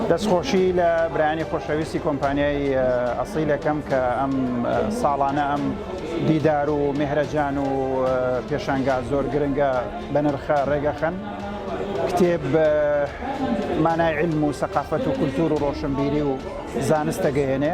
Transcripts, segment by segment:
دەستخۆشی لە برانی خۆشەویستی کۆمپانیای ئەسیلەکەم کە ئەم ساڵانە ئەم دیدار و مهرەجان و پێشانگا زۆر گرنگە بە نرخە ڕێگەخەن کتێب مانای علم و سەقافەت و کولتور و ڕۆشنبیری و زانست دەگەیەنێ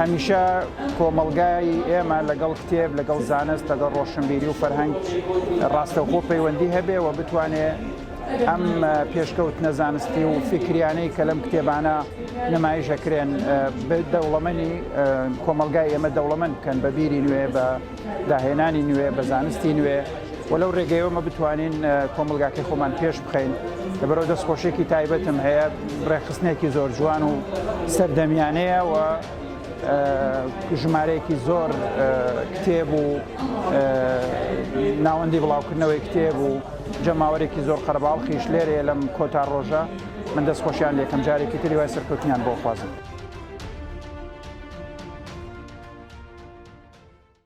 هەمیشە کۆمەڵگای ئێمە لەگەڵ کتێب، لەگەڵ زانست، لەگەڵ ڕۆشنبیری و فەرهەنگ ڕاستەوخۆ پەیوەندی هەبێ و بتوانێ ئەم پێشکەوتنە زانستی و فیکریانەی کە لەم کتێبانە نمایش ئەکرێن دەوڵەمەنی کۆمەڵگای ئێمە دەوڵەمەند بکەن بە بیری نوێ بە داهێنانی نوێ بە زانستی نوێ و لەو ڕێگەیەوە مە بتوانین کۆمەلگاکەی خۆمان پێش بخەین لەبەرەوە دەست خۆشێکی تایبەتم هەیە ڕێخستنێکی زۆر جوان و سەردەمیانەیە و ژمارەیەکی زۆر کتێب و ناوەندی بڵاوکردنەوەی کتێب و جەماوەرێکی زۆر قەرباڵخیش لێرەیە لەم کۆتا ڕۆژە من دەست خۆشیان لەکەم جارێکی تری وای سەرکەوتنیان بۆخوازم.